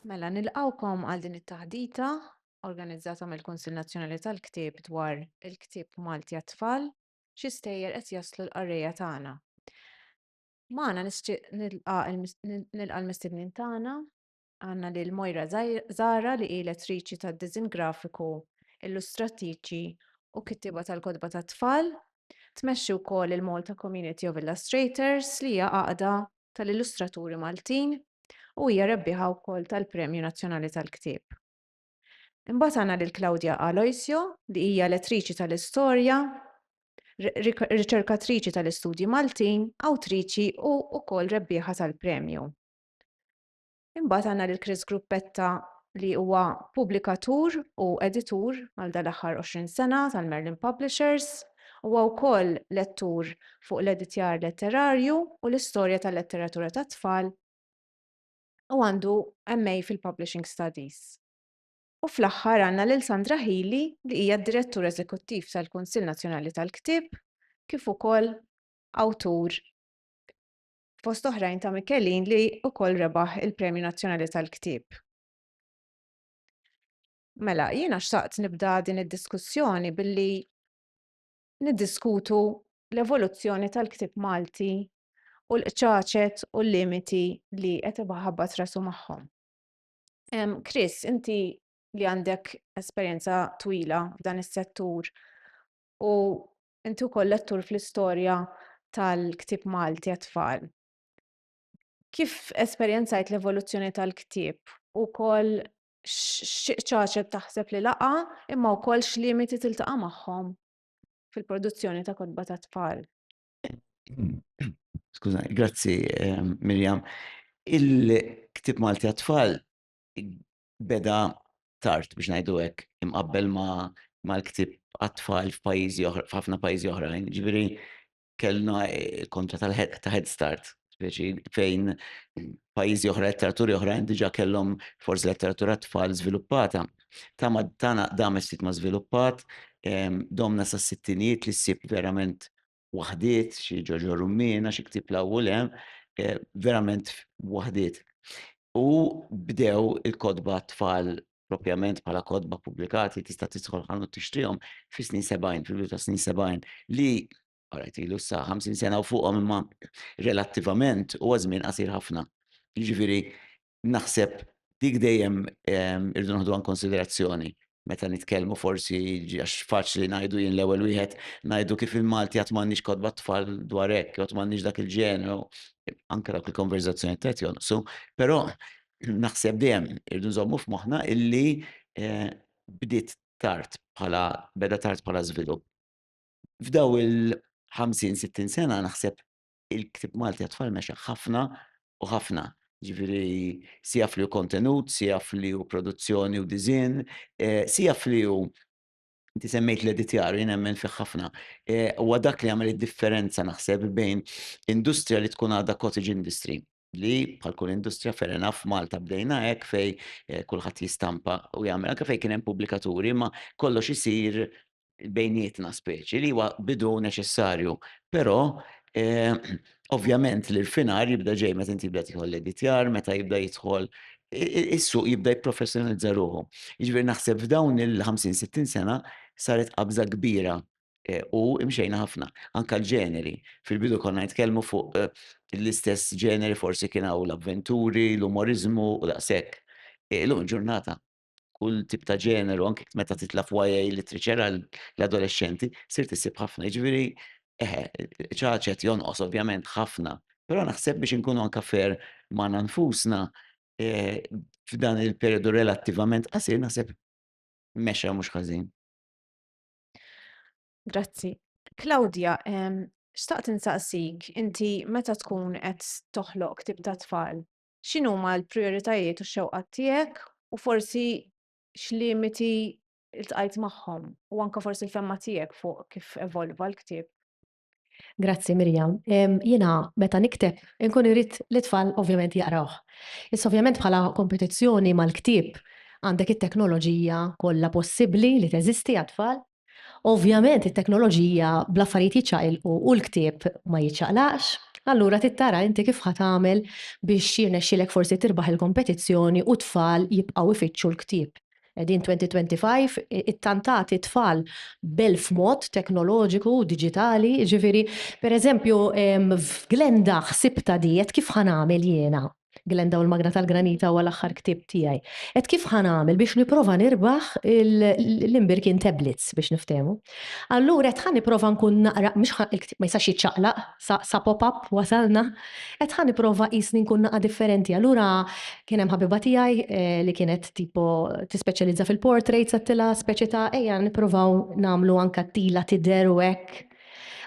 Mela, nilqgħukom għal din it-taħdita organizzata mill-Kunsill Nazzjonali tal-Ktieb dwar il-ktieb Malti għat-tfal, xi stejjer qed jaslu l-qarrejja tagħna. Magħna nixtieq nilqa' l-mistednin tagħna, Għandna lil Moira Zahra li hi lettriċi tad-diżinn grafiku, illustrattiċi u kittieba tal-kotba tat-tfal. Tmexxi wkoll il-Malta Community of Illustrators li hija għaqda tal-illustraturi Maltin u hija rebbieħa wkoll tal-Premju Nazzjonali tal-Ktieb. Imbagħad għandna lil Claudia Aloisio li hija lettriċi tal-istorja, riċerkatriċi tal-istudji Maltin, awtriċi u wkoll rebbieħa tal-premju. Imbagħad għandna lil Chris Gruppetta li huwa pubblikatur u editur għal dal-aħħar 20 sena tal-Merlin Publishers. Huwa wkoll lettur fuq l-editjar letterarju u l-istorja tal-letteratura tat-tfal u għandu MA fil-Publishing Studies. U fl-aħħar għandna lil Sandra Healy li hija d-Direttur Eżekuttiv tal-Kunsill Nazzjonali tal-Ktieb kif ukoll awtur fost oħrajn ta' Michelin li wkoll rebaħ il-Premju Nazzjonali tal-Ktieb. Mela, jiena xtaqt nibda din id-diskussjoni billi niddiskutu l-evoluzzjoni tal-ktieb Malti u l-qċaċet u l-limiti li qed ibaħabbat rasu magħhom. Chris, inti li għandek esperjenza twila f'dan is-settur u Inti wkoll lettur fl-istorja tal-ktieb Malti għat-tfal. Kif esperjenzajt l-evoluzzjoni tal-ktieb u wkoll x'ċaċet taħseb li laqa' imma wkoll x'limiti tiltaqa' magħhom fil-produzzjoni ta' kotba tat-tfal? Skużani, grazzi Miriam. Il-ktieb Malti għat-tfal beda tard biex ngħidu hekk imqabbel mal-ktieb għat-tfal f'pajjiżi oħra, f'ħafna pajjiżi oħrajn. Ġifieri kellna eh, kontra ta' Head Start, speċi fejn pajjiżi oħra, letteraturi oħrajn diġà kellhom forsi letteratura tfal żviluppata. Ta' ma tana dam is-sit ma żviluppat, domna sa' sittinijiet li ssib verament waħdiet, xi ġoġo rummina, xi ktib law u lem, eh, verament waħdiet. U bdew il-kodba tfal propjament bħala kodba pubblikati tista' tidħol ħanu tixtrihom fi snin 70, fil ta' snin 70 li għarajt ilu sa 50 sena u fuqhom imma relattivament u għazmin qasir ħafna. Ġifieri Naħseb dik dejjem irridu naħduha inkonsiderazzjoni meta nitkellmu forsi għax faċli ngħidu jien l-ewwel wieħed ngħidu kif il-Malti għad m'għandniex kotba tfal dwar hekk, jew għad m'għandniex dak il-ġeneru, anke dawk il-konverżazzjonijiet qed jonqsu, però naħseb dejjem irridu nżommu f'moħħna illi bdiet tard bħala, beda tard bħala żvilupp. F'daw il-50, 60 sena naħseb il-ktieb Malti għat-tfal mexa ħafna u ħafna. Ġifieri sija fli hu kontenut, sija fli hu produzzjoni u disinn, eh, sija fli hu Inti semmejt l-editjar, jien nemmen fih ħafna. E, huwa dak li għamel id-differenza naħseb bejn industrija li tkun għadha cottage industry li bħal kull industrija fair enough f'Malta bdejna hekk fej eh, kulħadd jistampa u jagħmel anke fejn kien hemm pubblikaturi ma kollox isir bejnietna speċi li huwa bidu neċessarju. Però eh, ovvjament li l-finar jibda ġej meta inti jibda tieħu l-editjar, meta jibda jidħol is-suq jibda jipprofessjonalizza ruħu. Jiġifieri naħseb f'dawn il-50-60 sena saret qabża kbira Eh, u imxejna ħafna, anka l-ġeneri. Fil-bidu konna nitkellmu fuq eh, l-istess ġeneri forsi kien hawn l-avventuri, l-umorizmu u daqshekk. Eh, illum ġurnata kull tip ta' ġeneru, anke meta titla f'YA literature l-adolescenti, sir tisib ħafna, ġviri, eħe, ċaċet jonqos ovvjament ħafna, pero naħseb biex nkunu anka fer ma' nfusna f'dan il-periodu relattivament qasir naħseb mexa mhux ħażin. Grazzi. Claudia, ehm, xtaqt insaqsik, inti meta tkun qed toħloq ktib ta' tfal, x'inhuma l-prijoritajiet u x-xewqat tiegħek u forsi x'limiti ltqajt magħhom u anke forsi l-femma tiegħek fuq kif evolva l-ktieb? Grazzi Miriam. Jiena meta nikteb inkun irrid li tfal ovvjament jaqrawh. Issa ovvjament bħala kompetizzjoni mal-ktieb għandek it-teknoloġija kollha possibbli li teżisti għat-tfal. Ovvjament it-teknoloġija bl-affarijiet jiċċaqilqu u l-ktieb ma jiċċaqlaqx. Allura trid tara inti kif ħa tagħmel biex jirnexxielek forsi tirbaħ il-kompetizzjoni u t-tfal jibqgħu jfittxu l-ktieb. Qegħdin 2025, ittantati tfal b'elf mod teknoloġiku u diġitali, jiġifieri, pereżempju, f'Glenda ħsibtha di, għedt kif ħa nagħmel jiena, Glenda u l-Magna tal-Granita huwa l-aħħar ktieb tiegħi, għedt kif ħa nagħmel biex nipprova nirbaħ l-imbirkien tablets biex niftehmu. Allura għedt ħa nipprova nkun naqra, mhux ħa, il-ktieb ma jistax jiċċaqlaq, Sa sa pop-up wasalna. Għedt ħa nipprova qisni nkun naqa' differenti. Allura kien hemm ħabiba tiegħi li kienet tipo tispeċjalizza fil-portraits għedtilha speċi ta' ejja nipprovaw nagħmlu anke tila tidher u hekk.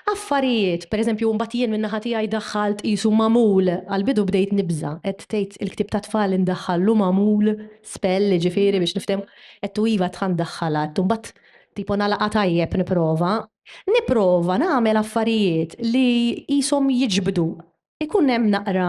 Affarijiet, per eżempju mbagħad jien minn naħa tiegħi daħħalt qisu magħmul, għall-bidu bdejt nibża', qed tgħid il-ktieb tat-tfal indaħħallu magħmul, spell jiġifieri biex niftehmu, għedtu iva għedt ħa ndaħħalha, għedtu mbagħad tipo nagħlaqha tajjeb nipprova, Nipprova nagħmel affarijiet li qishom jiġbdu. Ikun hemm naqra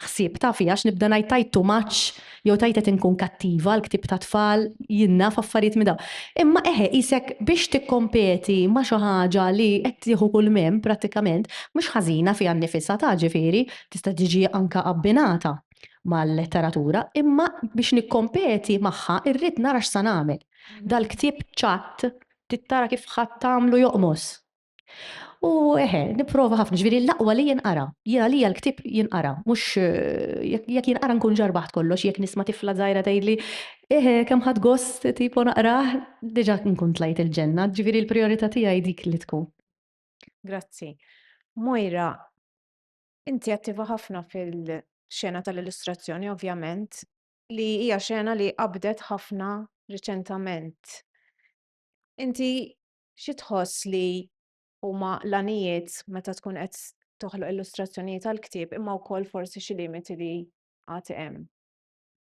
ħsieb, tafi, għax nibda ngħid tgħid too much jew tgħid qed inkun kattiva, l-ktieb tat-tfal, jien naf affarijiet minn dawn. Imma eħe qisek biex tikkompeti ma' xi ħaġa li qed tieħu kull minn, prattikament, mhux ħażina fiha nnifisha ta' ġifieri, tista' tiġi anke abbinata mal-letteratura, imma biex nikkompeti magħha rrid nara x'sa nagħmel. Dal-ktieb ċatt Trid tara kif ħadd tagħmlu joqmos. U eħe, nipprova ħafna, ġifieri l-aqwa li jinqara. Jien għalija l-ktieb jinqara, mhux jekk jinqara nkun ġarbaħt kollox, jekk nisma' tifla żgħira tgħidli, eħe, kemm ħadt gost tipo naqrah, diġà nkun tlajt il-ġenna, ġifieri l-prijorità tiegħi hi dik li tkun. Grazzi. Moira, inti attiva ħafna fil-xena tal-illustrazzjoni ovvjament, li hija xena li qabdet ħafna riċentament. Inti xi tħoss li huma l-għanijiet meta tkun qed toħloq illustrazzjonijiet għal ktieb imma wkoll forsi xi limiti li għad hemm.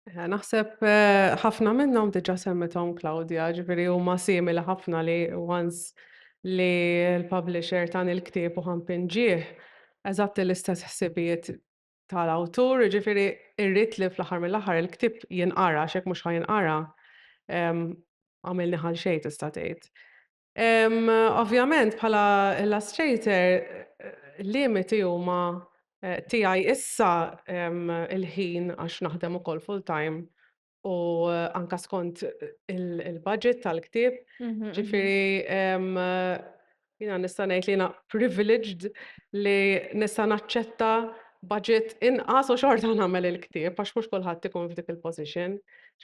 Eh, naħseb eh, ħafna minnhom diġà semmithom Claudia, ġifieri huma simili ħafna li once li l-publisher tan il-ktieb u ħampin ġieħ eżatt l-istess ħsibijiet tal-awtur, jiġifieri rrid li fl-aħħar mill-aħħar il-ktieb jinqara għax jekk mhux ħa jinqara għamilni ħal xejn tista' tgħid. Ovvjament bħala illustrator limiti huma eh, tiegħi issa il-ħin għax naħdem ukoll full time u anka skont il-budget tal-ktieb. Ġifiri, jina nista' ngħid li jina privileged li nista' naċċetta budget inqas u xorta nagħmel il-ktieb għax mhux kulħadd ikun f'dik il-position.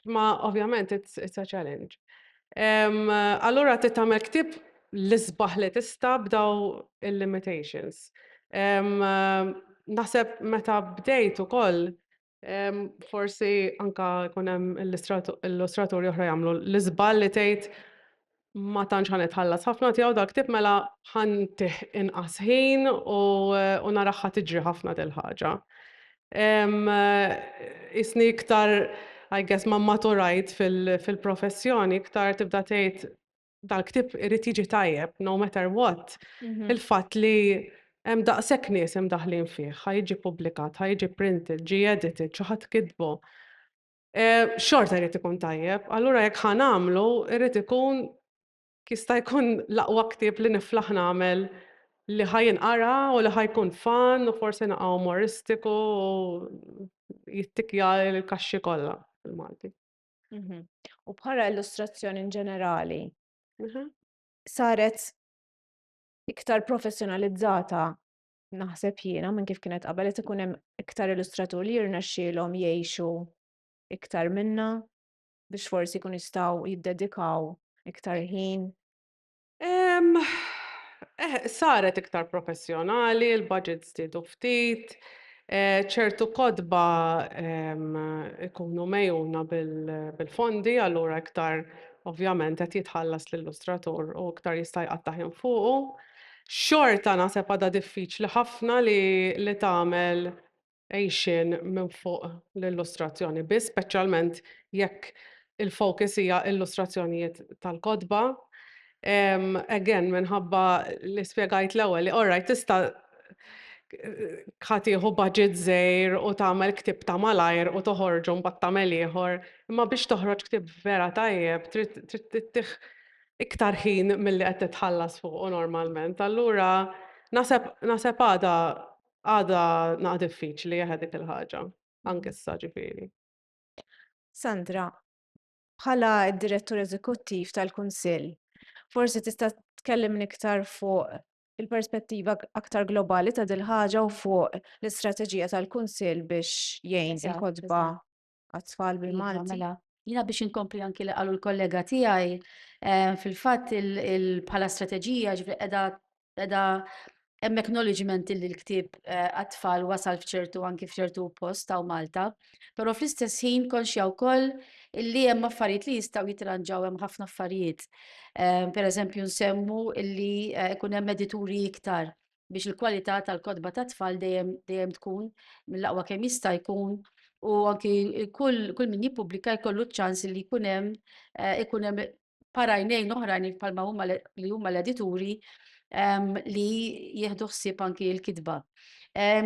Ma ovvjament it's a challenge. Allura trid tagħmel ktieb l-isbaħ li tista' b'daw il-limitations. Naħseb meta bdejt ukoll Forsi anke jkun hemm illustraturi oħra jagħmlu l-iżball li tgħid ma tantx ħa nitħallas ħafna tiegħu dal-ktieb mela ħa ntih inqas ħin u naraha tiġri ħafna dil-ħaġa. Qisni iktar, I guess, ma mmaturajt fil-professjoni iktar tibda tgħid Dal-ktieb irid jiġi tajjeb, no matter what. Il-fatt li hemm daqshekk nies imdaħħlin fih, ħa jiġi ppubblikat, ħa jiġi printed, ġie edited, xi ħadd kitbu, xorta jrid ikun tajjeb. Allura jekk ħa nagħmlu, irid ikun jista' jkun l-aqwa ktieb li niflaħ nagħmel li ħa jinqara u li ħa jkun fun u forsi naqgħa umoristiku u jittikkja l-kaxxi kollha bil-Malti. Mhm. U bħala illustrazzjoni in ġenerali, mhm. saret iktar professjonalizzata naħseb jiena minn kif kienet qabel qed ikun hemm iktar illustratur li jirnexxielhom jgħixu iktar minna biex forsi jkun jistgħu jiddedikaw iktar ħin Ehm, eh, saret iktar professjonali, il-budget żdiedu ftit, eh, ċertu kotba ehm, ikunu mejuna bil- bil-fondi, allura iktar ovvjament qed jitħallas l-illustratur u iktar jista' jqatta' ħin fuqu. Xorta naħseb għadha diffiċli ħafna li li tagħmel għixien minn fuq l-illustrazzjoni biss, speċjalment jekk il-focus hija illustrazzjonijiet tal-kotba. Um, again, minħabba li spiegajt l-ewwel li orraj tista' ħatiħu budget żejr u tagħmel ktib ta' malajr u toħorġu mbagħad tagħmel ieħor, imma biex toħroġ ktib vera tajjeb trid tittih iktar ħin milli qed titħallas fuq normalment. Allura naseb għada Għadha naqgħa diffiċli eħe dik il-ħaġa, anke issa ġifieri. Sandra, bħala d-Direttur Eżekuttiv tal-Kunsill, forsi tista' tkellimni iktar fuq il-perspettiva aktar globali ta' dil-ħaġa u fuq l-istrateġija tal-Kunsill biex jgħin il-kotba għat-tfal iva, bil-Malti. Mela, jina biex inkompli anki li qalu l-kollega tiegħi eh, fil-fatt bħala strateġija ġifri qiegħda qiegħda hemm acknowledgement li l-ktieb eh, għat-tfal wasal f'ċertu anki f'ċertu post ta' Malta, però fl-istess ħin konxja wkoll illi hemm affarijiet li jistgħu jitranġaw hemm ħafna affarijiet. Eh, per eżempju nsemmu illi eh, ikun hemm edituri iktar biex il-kwalità tal-kotba tat-tfal dejjem dejjem tkun mill-aqwa kemm jista' jkun u anki kull kull min jippubblika jkollu ċ-ċans li jkun hemm ikun hemm parajnejn oħrajn bħalma huma li huma l-edituri li jieħdu ħsieb anki l-kitba.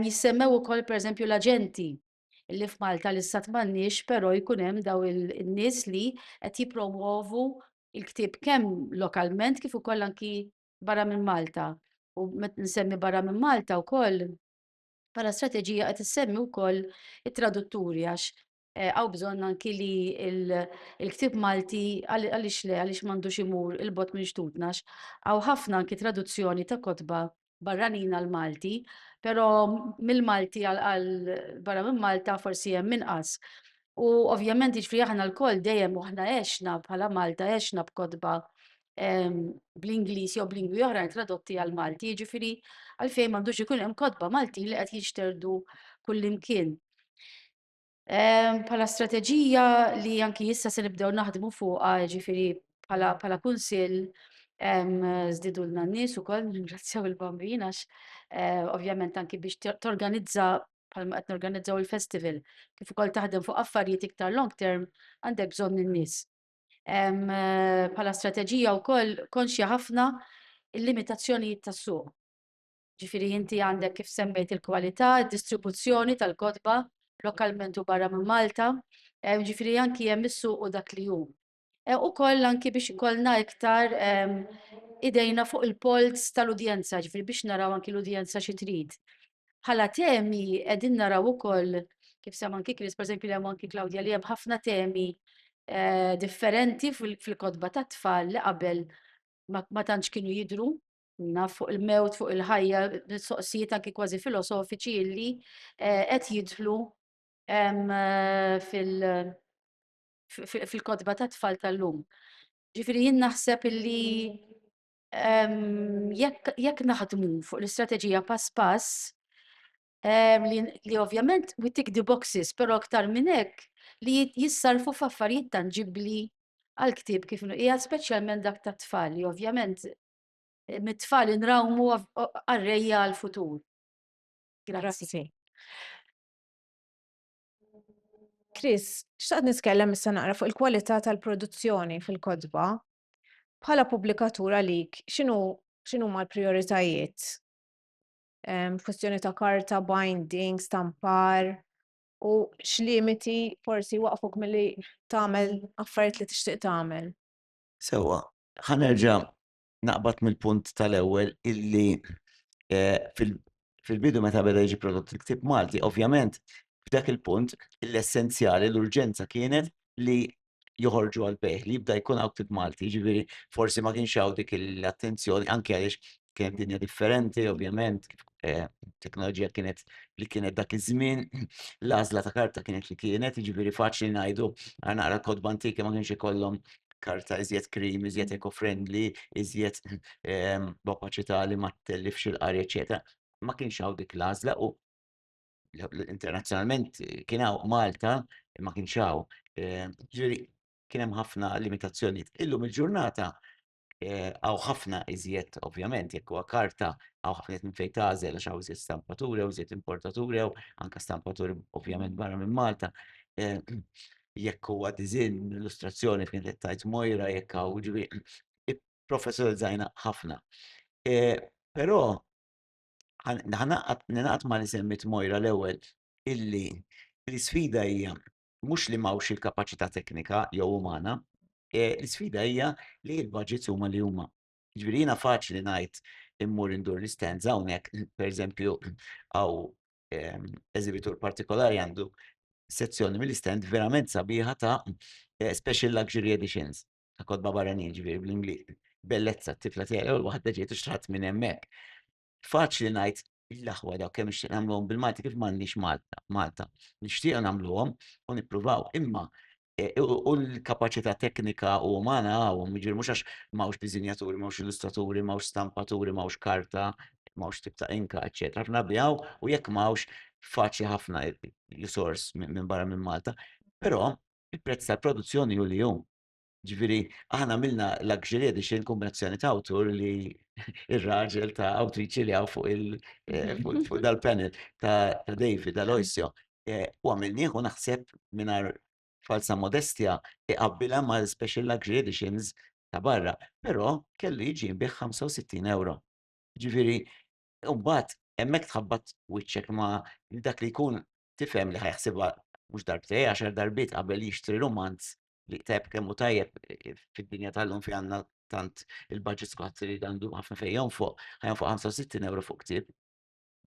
Jissemmew ukoll pereżempju l-aġenti li f'Malta li sat m'għandniex però jkun hemm daw in-nies li qed jippromwovu l-ktieb kemm lokalment kif ukoll anki barra minn Malta. U met nsemmi barra minn Malta wkoll bħala strateġija qed issemmi wkoll it-tradutturi għax għaw eh, bżonn anki li il-ktib Malti għaliex le għaliex m'għandux imur il-bot minn xtutna għaw ħafna anki traduzzjoni ta' kotba barranina l-Malti, pero mill-Malti għal barra minn Malta forsi hemm inqas. U ovvjament ġifri aħna l-koll dejjem aħna għexna bħala Malta għexna b'kodba bl-Ingliż jew b'lingwi oħrajn tradotti għal Malti, jiġifieri għalfejn m'għandux ikun hemm kotba Maltin li qed jinxterdu kullimkien. Bħala strateġija li anki issa se nibdew naħdmu fuqha, jiġifieri bħala kunsill żdidulna n-nies ukoll, nirringrazzjaw il-Bambin għax eh, ovvjament anki biex torganizza bħalma qed norganizzaw il-festival, kif ukoll taħdem fuq affarijiet iktar long term għandek bżonn in-nies. bħala strateġija wkoll konxja ħafna il-limitazzjonijiet tas-suq. Ġifieri inti għandek kif semmejt il-kwalità, id-distribuzzjoni tal-kotba lokalment u barra minn Malta, ġifieri anki hemm is-suq u dak li hu. Ukoll anki biex ikollna iktar idejna fuq il-polz tal-udjenza, ġifieri biex naraw anki l-udjenza xi trid. Bħala temi qegħdin naraw ukoll kif semma anki Chris, pereżempju hemm anki Claudia li hemm ħafna temi eh, differenti fil-kotba tat-tfal li qabel ma tantx kienu jidru naf fuq il-mewt, fuq il-ħajja, soqsijiet anki kważi filosofiċi illi eh, qed jidħlu eh, fil- fil-kotba tat-tfal tal-lum. Ġifieri jien naħseb illi jekk naħdmu fuq l-istrateġija pass pass, li ovvjament we tick the boxes, però aktar minn hekk li jissarrfu f'affarijiet tanġibbli għall-ktieb kif inhu qiegħed, speċjalment dak tat-tfal, li ovvjament mit-tfal inrawmu qarrejja għall-futur. Grazzi. Chris, xtaqt nitkellem issa naqra fuq il-kwalità tal-produzzjoni fil-kotba. Bħala pubblikatur għalik x'inhu x'inhuma l-prijoritajiet? Kwistjoni ta' karta, binding, stampar u x'limiti forsi waqfuk milli tagħmel affarijiet li tixtieq tagħmel? Sewwa, ħa nerġa' naqbad mill-punt tal-ewwel illi fil-bidu meta beda jiġi prodott il-ktieb Malti, ovvjament f'dak il-punt l-essenzjali, l-urġenza kienet li joħorġu għal bejħ li jibda jkun hawn ftit Malti, ġifieri forsi ma kienx hawn dik l-attenzjoni anke għaliex kienet dinja differenti, ovvjament, eh, teknoloġija kienet li kienet dak iż-żmien, l-għażla ta' karta kienet li kienet, ġifieri faċli ngħidu għal naqra kodba antiki ma kienx ikollhom karta iżjed krim, iżjed eco-friendly, iżjed ehm, b'opaċità li ma tellifx il-qari, eċetera. Ma kienx hawn dik l-għażla u internazzjonalment kien hawn Malta ma kienx hawn. Eh, ġifieri kien hemm ħafna limitazzjonijiet. Illum il-ġurnata eh, għaw ħafna iżjed, ovvjament, jekk huwa karta għaw ħafna minn fejn tażel għax hawn iżjed stampaturi, għaw iżjed importaturi, għaw anka stampaturi ovvjament mm. barra minn Malta. Eh, jekk huwa dizin, illustrazzjoni fejn qed tajt mojra jekk hawn ġifieri professorizzajna ħafna. Però Ningħaqad ma' li semmiet Moira l-ewwel illi l-isfida hija mhux li m'hawnx il-kapaċità teknika jew umana, eh, l-isfida hija li l-budgets huma li huma. Ġifieri jiena faċli ngħid immur indur l-istands hawnhekk, pereżempju hawn ehm, eżibitur partikolari għandu sezzjoni mill-istand verament sabiħa ta' eh, special luxury editions. ta' kodba barranin ġifieri bl-Ingliż. Bellezza t-tifla tiegħi l-ewwel waħda ġiet u xtraħt minn hemmhekk. Faċli ngħid l-aħwa daw kemm nixtieq nagħmluhom bil-Malti kif m'għandix Malta, Malta. Nixtieq nagħmluhom u nippruvaw, imma e, u l-kapaċità teknika u umana għawhom, jiġifieri mhux għax m'hawnx diżinjaturi, m'hawnx illustraturi, m'hawnx stampaturi, m'hawnx karta, m'hawnx tip ta' inka, eċetera. Ħafna bijaw u jekk m'hawnx faċli ħafna jisors minn barra minn Malta. Però il-prezz tal-produzzjoni hu li hu. Ġifieri, aħna għamilna Luxury Edition kombinazzjoni ta' awtur li ir-raġel ta' awtriċi li hawn fuq il-fuq eh, dal-panel ta' David Aloisio. Eh, u għamilnieh u naħseb mingħajr falsa modestja iqabbilha ma' special luxury editions ta' barra, però kellu jiġi bih 65 euro. Ġifieri, mbagħad hemmhekk tħabbat wiċċek ma' dak li jkun tifhem li ħajħsibha mhux darbtej għaxar darbiet qabel jixtri rumanz li ktab kemm hu tajjeb eh, fid-dinja tal-lum fi għandna tant il-budget squad li għandu ħafna fejn jonfoq, ħajonfoq 65 euro fuq ktieb.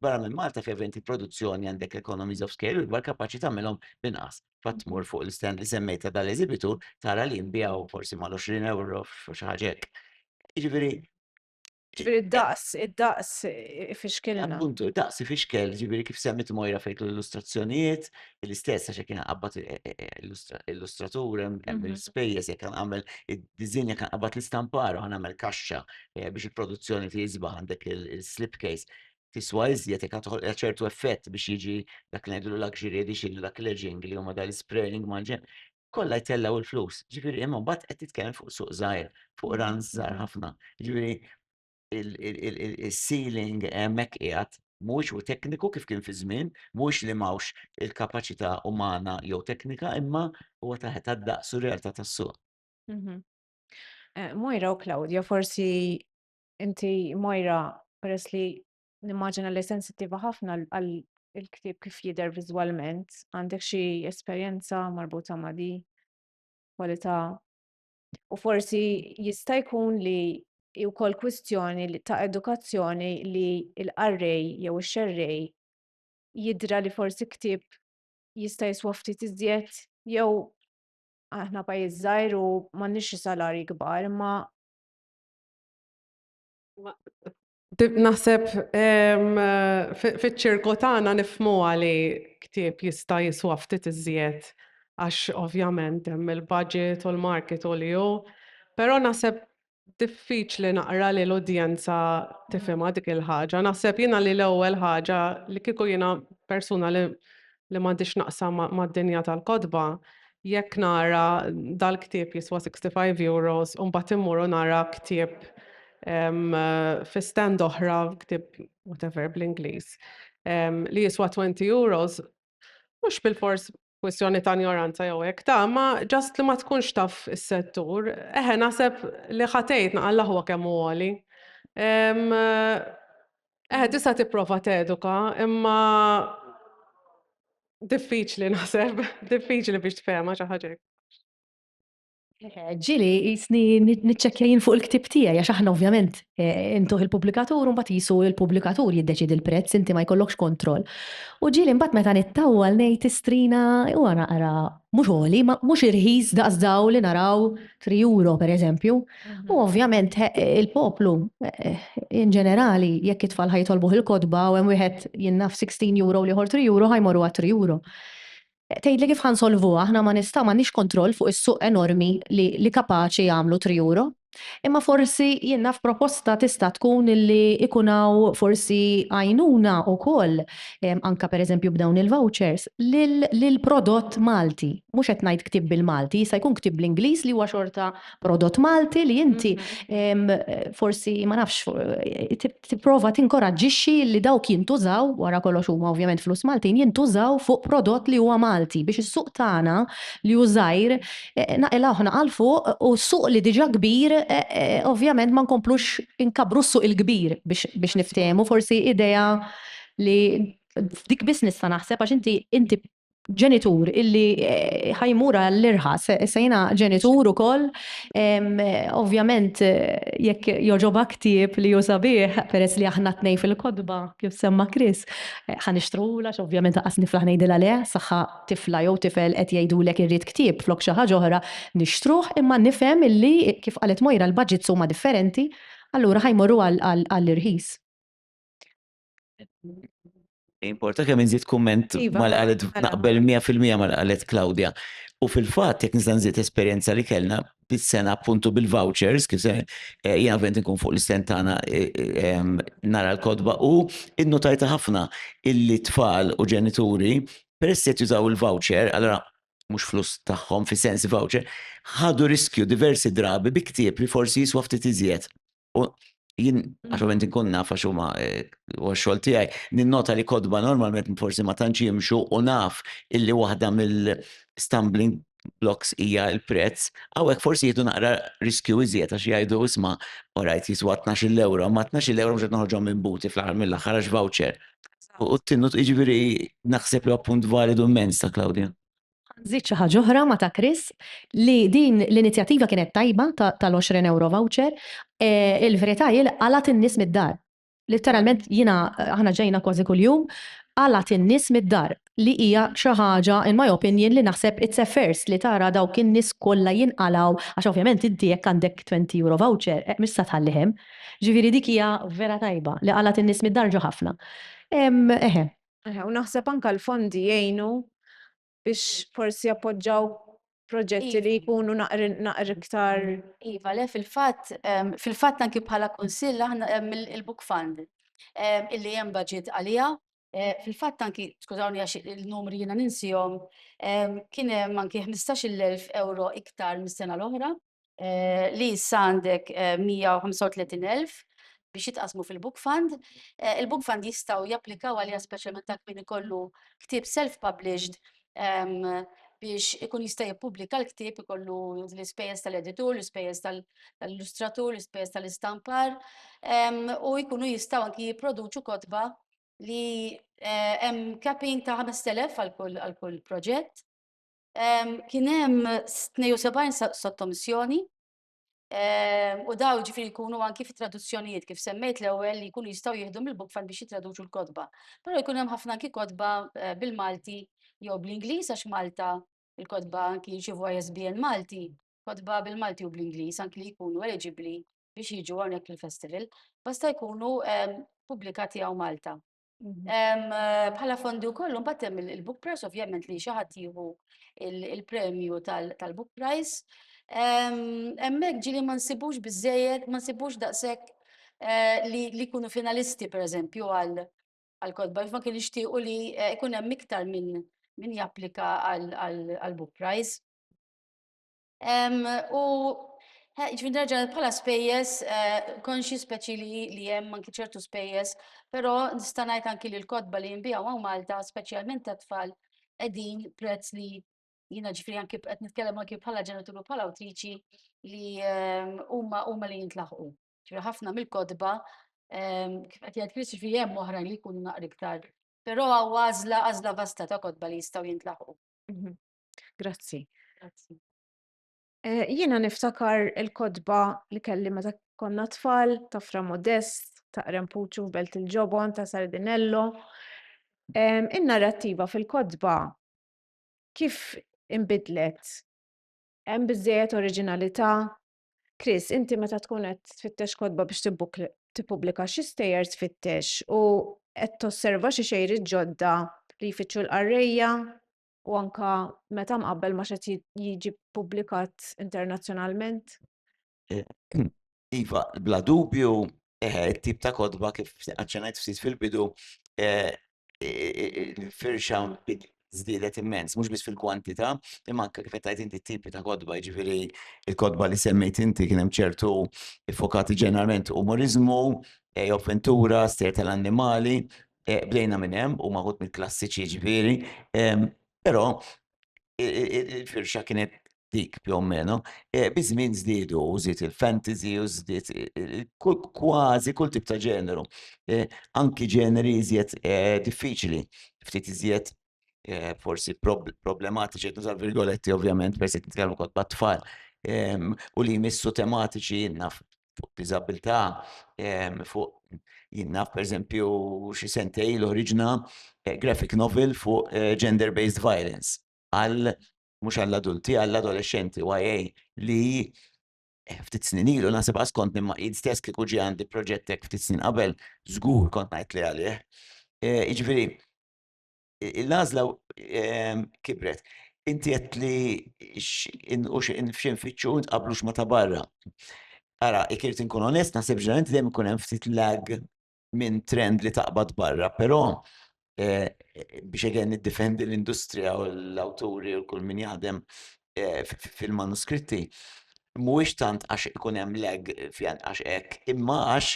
Barra minn Malta fi eventi produzzjoni għandek economies of scale u l-bar kapaċi tagħmilhom binqas. Fatt mur fuq l-stand li semmejta dal-eżibitu tara li nbijaw forsi mal-20 euro xi ħaġa hekk. Jiġifieri Ġifieri d-daqs, id-daqs ifixkilna. Appuntu, id-daqs ifixkel, ġifieri kif semmit Mojra fejk l-illustrazzjonijiet, l-istess għax kien qabad e, e, e, illustratur hemm mhm. il-spejjeż jekk kan għamel id-diżin jekk kan qabad l-istampar u għamel kaxxa biex il-produzzjoni tiżba għandek il-slipcase tiswa iżjed jekk għatħol ċertu effett biex jiġi dak li ngħidu luxury edition, dak l-edging li huma dal-spraying maġen. kollha jtellgħu l-flus. Ġifieri imma mbagħad qed titkellem fuq suq żgħir, fuq runs żgħar ħafna. Ġifieri il-ceiling hemmhekk qiegħed mhuwiex u tekniku kif kien fi żmien, mhuwiex li m'hawnx il-kapaċità umana jew teknika, imma huwa ta' daqs u realtà tas-suq. Mhm. Eh, Moira u Claudia, forsi inti Moira, peress li Nimmaġina li sensittiva ħafna għal il-ktieb kif jidher viżwalment. Għandek xi esperjenza marbuta ma' di kwalità? U forsi jista' jkun li hi wkoll kwistjoni ta' edukazzjoni li l-qarrej jew ix-xerrej jidra li forsi ktieb jista' jiswa ftit iżjed jew aħna pajjiż żgħir u m'għandniex xi salarji kbar imma Naħseb fiċ-ċirku tagħna nifhmuha li ktieb jista' jiswa ftit iżjed għax ovvjament hemm il-budget u l-market u li hu, però naħseb diffiċli naqra li l-udjenza tifhimha dik il-ħaġa. Naħseb jiena li l-ewwel ħaġa li kieku jiena persuna li li m'għandi x'naqsam ma' mad-dinja tal-kotba, jekk nara dal-ktieb jiswa' 65 euros u mbagħad immur u nara ktieb ehm, fi stand oħra, ktieb whatever bl-Ingliż, ehm, li jiswa' 20 euros, mhux bilfors kwistjoni ta' ignoranza jew hekk ta' ma ġast li ma tkunx taf is-settur, eħe naħseb li ħatejt naqallah huwa kemm huwa li. Ehm, Eh, tista' tipprova teduka, imma diffiċli naħseb, diffiċli biex tfehma xi ħaġa. Ġili, jisni nitċekjajin fuq il-ktib tijaj, għax aħna ovvjament eh, intuħ il-publikatur, un jisu il-publikatur jiddeċid il-prezz, inti ma jkollokx kontroll. U ġili mbat meta nittawal nejt istrina u għana għara mux għoli, mux irħis daqsdaw li naraw 3 euro per eżempju. U ovvjament il-poplu in ġenerali jekk it-tfal ħajtolbuh il-kotba u hemm wieħed jinnaf 16 euro li ħor 3 euro ħajmorru għat 3 euro. Tgħidli kif ħansolvuha aħna ma nista' m'għandniex kontroll fuq is-suq enormi li kapaċi jagħmlu 3 euro. Imma forsi jien naf proposta tista' tkun li jkun hawn forsi għajnuna wkoll anke pereżempju b'dawn il-vouchers lill-prodott Malti. Mhux qed ngħid ktieb bil-Malti, jista' jkun ktieb bl-Ingliż li huwa xorta prodott Malti li inti forsi ma nafx tipprova tinkoraġġixxi li dawk jintużaw wara kollox huma ovvjament flus Maltin jintużaw fuq prodott li huwa Malti biex is-suq tagħna li hu żgħir naqilgħuh naqa' 'l fuq u suq li diġà kbir ovvjament ma nkomplux inkabbru s-suq il-kbir biex niftehmu forsi idea li f'dik biss nista' naħseb għax inti ġenitur illi ħa jmur għall-irħas, issa jiena ġenitur ukoll, ovvjament jekk jogħġobha ktieb li hu sabiħ peress li aħna t-tnejn fil-kotba kif semma Chris, ħa nixtrulha għax ovvjament lanqas niflaħ ngħidilha le, saħħa tifla jew tifel qed jgħidulek irrid ktieb flok xi ħaġa oħra, nixtruh imma nifhem illi kif qalet Moira l-budgets huma differenti, allura ħa jmorru għall-irħis. Importa kemm inżid kumment iva, mal-qalet naqbel 100% mal-qalet Claudia. U fil-fatt jekk nista' nżid esperjenza li kellna bis-sena appuntu bil-vouchers kif se eh, jien avent nkun fuq l-istent tagħna eh, eh, nara l-kodba u innotajta ħafna illi tfal u ġenituri peress qed jużaw il-voucher, allora mhux flus tagħhom fi sens voucher, ħadu riskju diversi drabi bi ktieb li forsi jiswa ftit iżjed U jien għaxovent inkun naf għax huma eh, u xogħol tiegħi, ninnota li kodba normalment forsi ma tantx jimxu u naf illi waħda mill-stumbling blocks hija l-prezz, hawnhekk forsi jieħdu naqra riskju iżjed għax jgħidu isma' orajt jiswa 12 euro, ma 12 euro mhux qed noħorġhom minn buti fl-aħħar mill-aħħar għax voucher. U t-tinnu jiġifieri naħseb li appunt validu immens ta' Claudia. Ħa nżid xi ħaġa oħra ma' ta' Chris, li din l-inizjattiva kienet tajba tal-għoxrin ewro voucher. Il-verità hi li qalgħet in-nies mid-dar. Litteralment jiena, aħna ġejna kważi kuljum, qalgħet in-nies mid-dar, li hija xi ħaġa, in my opinion, li naħseb it's a first li tara dawk in-nies kollha jinqalgħu, għax ovvjament inti jekk għandek twenty euro voucher, mhux se tħalli hemm. Ġifieri dik hija vera tajba, li qalgħet in-nies mid-dar ġew ħafna. Eħe. U naħseb anka l-fondi jgħinu biex forsi jappoġġaw proġetti li jkunu naqr iktar. Iva, le fil-fatt, fil-fatt anki bħala kunsill aħna il-book fund illi hemm budget għaliha. Fil-fatt anki, skużawni għax il-numri jiena ninsihom, kien hemm anki 15,000 euro iktar mis-sena l-oħra. li issa għandek 135,000 biex jitqassmu fil-book fund. Il-book fund jistgħu japplikaw għaliha speċjalment dak min ikollu ktieb self-published biex ikun jista' jippubblika l-ktieb ikollu l-ispejjeż tal-editur, l-ispejjeż tal-illustratur, l-ispejjeż tal-istampar, u jkunu jistgħu anki jipproduċu kotba li hemm capping ta' 5,000 għal kull proġett. Kien hemm 72 sottomissjoni u daw ġifiri jkunu anki fi traduzzjonijiet kif semmejt l-ewwel li jkunu jistgħu jieħdu mill-bookfan biex jitraduċu l-kotba. Però jkun hemm ħafna anki kotba bil-Malti jew bl-Ingliż għax Malta il-kotba anki jirċievu ISBN Malti, kotba bil-Malti u bl-Ingliż anki li jkunu eliġibbli biex jiġu hawnhekk fil-festival, basta jkunu pubblikati hawn Malta. Bħala fondi u kollu, mbattem il-book price, ovvjament li xaħat jihu il-premju tal-book price. Emmek ġili ma nsibux bizzejed, ma nsibux daqsek eh, li kunu finalisti, per eżempju, għal-kodba, ma kien ixtiqu li eh, kun hemm iktar minn min japplika għal-book price. U ġvin raġa pala spejjes, konxi speċi li jem anki ċertu spejjes, pero nistanajt anki li l-kodba li jimbijaw għaw Malta, speċjalment ta' tfal, edin prezz li jina ġifri anki bqet nitkellem anki bħala ġenituru bħala awtriċi li huma huma li jintlaħqu. Ġifri ħafna mill-kodba kif qed jgħid Chris ġifri hemm oħrajn li jkunu naqri iktar. Però għażla għażla vasta ta' kodba li jistgħu jintlaħqu. Mhm. Grazzi. Grazzi. Eh, jiena niftakar il-kodba li kelli meta konna tfal ta' Fra Modest, ta' Rempuċu f'Belt il-Ġobon, ta' Sardinello. In-narrattiva fil-kodba kif imbidlet? Hemm biżejjed oriġinalità? Chris, inti meta tkun qed tfittex kodba biex tippubblika xi stejjer tfittex u qed tosserva xi xejri ġodda li jfittxu l-qarrejja u anka meta mqabbel ma xed jiġi publikat internazzjonalment? Eh, iva, bla dubju, eh, tip ta' kodba kif għacċenajt ftit fil-bidu, eh, firxa zdidet immens, mux bis fil-kwantita, imma anka kif tajt inti tipi ta' kodba, ġifiri il-kodba li semmejt inti kienem ċertu fokati ġeneralment umorizmu, offentura, ster tal-annimali, Bdejna minn hemm u maħud mill-klassiċi jiġifieri, però il-firxa kienet dik più o meno. Biż-żmien żdiedu u żied il-fantasy u żdied kważi kull tip ta' ġeneru, anki ġeneri iżjed diffiċli, ftit iżjed eh, forsi problematiċi, qed nuża virgoletti ovvjament, persi nitkellmu kont bat tfal ehm, u li jmissu tematiċi jinnaf fuq diżabilità, ehm, fuq jinnaf per eżempju xi sentej l-oriġna eh, graphic novel fuq eh, gender-based violence għal mhux għall-adulti, għall-adolescenti, YA li Eh, ftit snin ilu nasib għas kont nimma id stess kieku ġi għandi proġettek ftit snin qabel, żgur kont ngħid li għalih. Eh, jiġifieri l-għażla ehm, kibret. Inti qed li f'xinfittxu nqablux ma ta' barra. Ara, ikirt inkun onest, naħseb ġeneralment dejjem ikun hemm ftit lag minn trend li taqbad barra, però eh, biex għen niddefendi l-industrija u l-awturi u kull min jaħdem fil-manuskritti mhuwiex tant għax ikun hemm lag fjan għax hekk, imma għax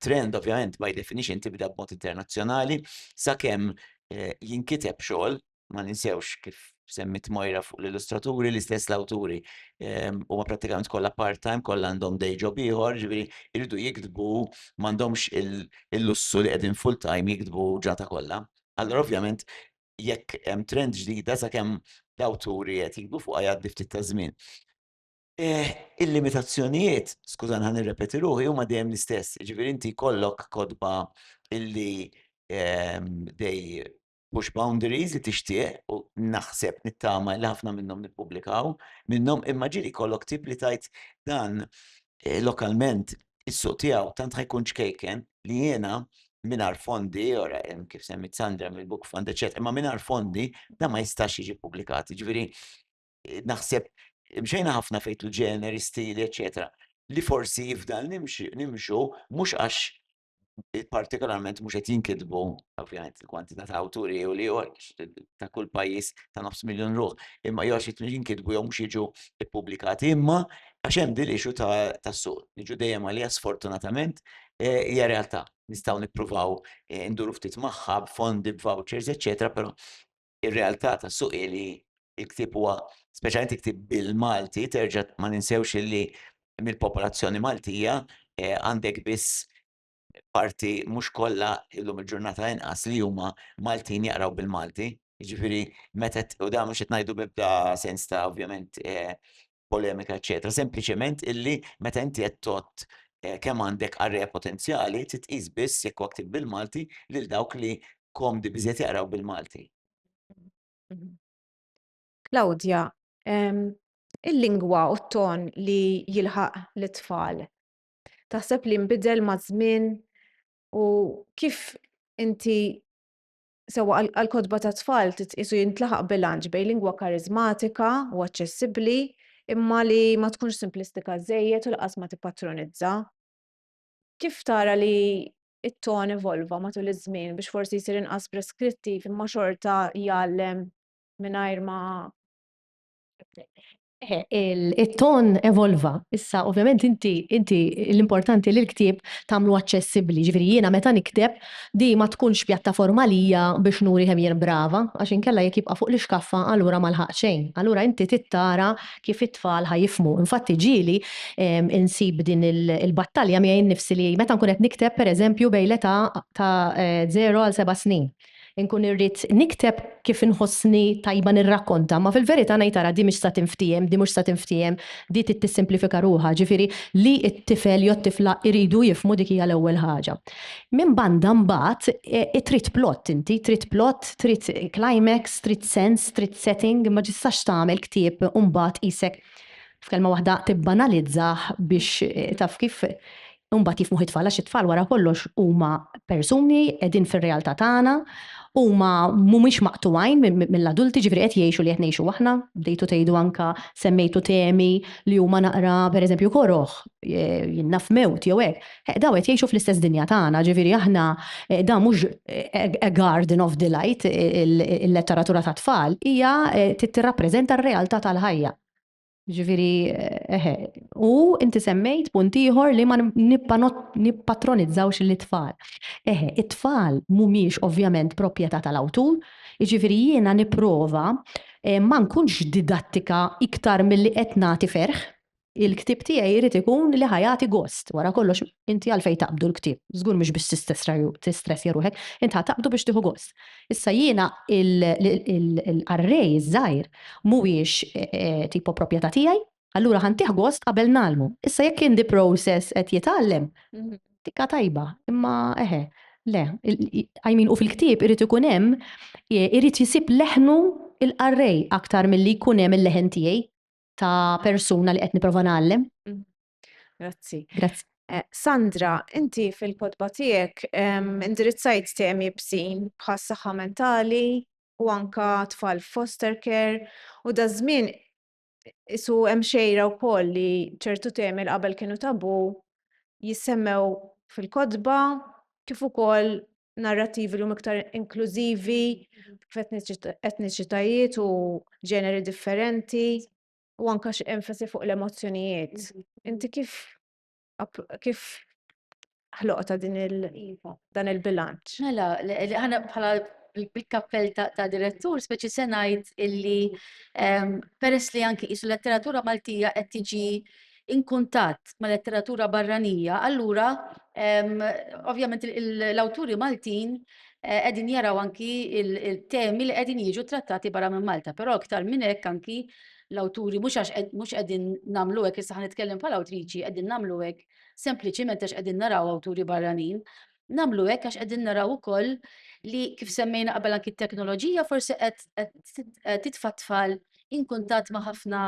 trend ovvjament by definition tibda b'mod internazzjonali sakemm eh, jinkiteb xogħol ma ninsewx kif semmit Mojra fuq l-illustraturi, l-istess l-awturi ehm, u ma pratikament kollha part-time, kollha għandhom day job ieħor, ġifieri jridu jiktbu m'għandhomx il-lussu li qegħdin full-time jiktbu ġata kollha. Allora ovvjament jekk hemm trend ġdida sakemm l-awturi qed jikbu fuqha jgħaddi ftit ta' żmien. Eh, il-limitazzjonijiet, skużan ħan nirrepeti ruħi, huma dejjem l-istess. Ġifieri inti kollok kodba illi ehm, dej push boundaries li tixtieq u naħseb nittama li ħafna minnhom nippubblikaw minnhom imma ġieli kollok tip li tajt dan lokalment is-suq tiegħu tant ħa jkun ċkejken li jiena mingħajr fondi, ora kif semmit Sandra mill-Book Fund, eċetera, imma mingħajr fondi da ma jistax jiġi ppubblikat. Jiġifieri naħseb mxejna ħafna fejtlu ġeneri, stili, eċetera, li forsi jifdal nimxu mhux għax partikolarment mhux qed jinkitbu, ovvjament, il-kwantità ta' awturi u li ta' kull pajjiż ta' nofs miljun ruħ, imma jew għax jinkitbu jew mhux jiġu ppubblikati, imma għax hemm din l-issue tas-suq. Niġu dejjem għaliha sfortunatament hija realtà. Nistgħu nippruvaw induru ftit magħha b'fondi, b'vouchers, eċċetera, però ir-realtà tas-suq hi li l-ktieb huwa, speċjalment il-ktieb bil-Malti, terġa' ma ninsewx li mill-popolazzjoni Maltija għandek biss parti mhux kollha llum il-ġurnata inqas li huma Maltin jaqraw bil-Malti. Jiġifieri meta, u dan mhux qed ngħidu b'ebda sens ta' ovvjament polemika, eċetera. Sempliċement illi meta inti qed tot eh, kemm għandek arreja potenzjali titqis biss jekk waktib bil-Malti lil dawk li komdi biżiet jaqraw bil-Malti. Claudia, il-lingwa u t-ton li jilħaq l-tfal. Taħseb li nbidel ma' żmien u kif inti Sewwa għall-kotba tat-tfal titqiesu jintlaħaq bilanċ bejn lingwa kariżmatika u aċċessibbli imma li ma tkunx simplistika żejjed u lanqas ma tippatronizza. Kif tara li t-ton evolva matul iż-żmien biex forsi jsir inqas preskrittiv imma xorta jgħallem mingħajr ma It-ton evolva. Issa, ovvjament inti, inti, l-importanti li l-ktieb tagħmlu aċċessibbli. Jiġifieri jiena meta nikteb, din ma tkunx pjattaforma għalija biex nuri kemm jien brava, għax inkella jekk jibqa' fuq l-ixkaffa allura ma lħaqt xejn. Allura inti trid tara kif it-tfal ħa jifhmu. Infatti ġieli nsib din il-battalja miegħi nnifsi li meta nkun qed nikteb, pereżempju, bejn l-età ta' żero għal seba' snin. Inkun irrid nikteb kif inħossni tajba nirrakkonta, imma fil-verità ngħid ara di mhix sa tinftiehem, di mhux sa tinftiehem, di trid tissimplifika ruħha, ġifieri li t-tifel jew t-tifla jridu jifhmu dik hija l-ewwel ħaġa. Minn banda mbagħad trid plott inti, trid plott, trid climax, trid sens, trid setting, ma tistax tagħmel ktieb u mbagħad qisek f'kelma waħda tibbanalizzah biex taf kif Imbagħad jifhmuh it-tfal għax it-tfal wara kollox huma persuni qegħdin fir-realtà tagħna, huma mhumiex maqtugħin mill-adulti, ġifieri qed jgħixu li qed ngħixu aħna, bdejtu tgħidu anke semmejtu temi li huma naqra pereżempju koroh, jien naf mewt jew hekk. Eħ, dawn qed jgħixu fl-istess dinja tagħna, ġifieri aħna dan mhux a garden of delight il-letteratura tat-tfal, hija tirrappreżenta r-realtà tal-ħajja. Ġifiri, eħe, u inti semmejt punt ieħor li ma nippatronizzaw li tfal. Eħe, it-tfal mumiex ovvjament proprjetà tal-awtur, ġifiri jiena niprova eh, ma nkunx didattika iktar mill-li qed nagħti ferħ, il-ktib tiegħi jrid ikun li ħajati gost. Wara kollox inti għalfejn taqbdu l-ktib. Żgur mhux biex tistress jaruħek, inti taqbdu biex tieħu gost. Issa jiena l-qarrej iż-żgħir mhuwiex tipo proprjetà tiegħi, allura ħa ntih gost qabel ngħallmu. Issa jekk in the process qed jitgħallem, tikka tajba, imma eħe, le, I mean u fil-ktieb irid ikun hemm, irid jisib leħnu l-qarrej aktar milli jkun hemm il-leħen tiegħi ta' persuna li qed nipprova ngħallem. Grazzi. Grazzi. Eh, Sandra, inti fil-kodba tiegħek indirizzajt temi bsin bħas saħħa mentali u anka tfal foster care u da żmien isu hemm xejra wkoll li ċertu temi l qabel kienu tabu jissemmew fil-kodba kif ukoll narrativi l iktar inklużivi f'etniċitajiet u ġeneri differenti. u anka xi enfasi fuq l-emozzjonijiet. Inti kif kif ħloqta din il iva. dan il-bilanċ? Mela, ħana bħala bil-kappell ta' direttur, speċi se ngħid illi peress li anki isu letteratura Maltija qed tiġi in kuntatt ma' letteratura barranija, allura ovvjament l-awturi Maltin eh, qegħdin jaraw anki il-temi li qegħdin jiġu trattati barra minn Malta, però aktar minn hekk anki l-awturi mhux għax mhux qegħdin nagħmlu hekk issa nitkellem bħala awtriċi qegħdin nagħmlu hekk sempliċiment għax qegħdin naraw awturi barranin. Namlu hekk għax qegħdin naraw ukoll li kif semmejna qabel anki t-teknoloġija forsi qed titfa' tfal in kuntatt ma' ħafna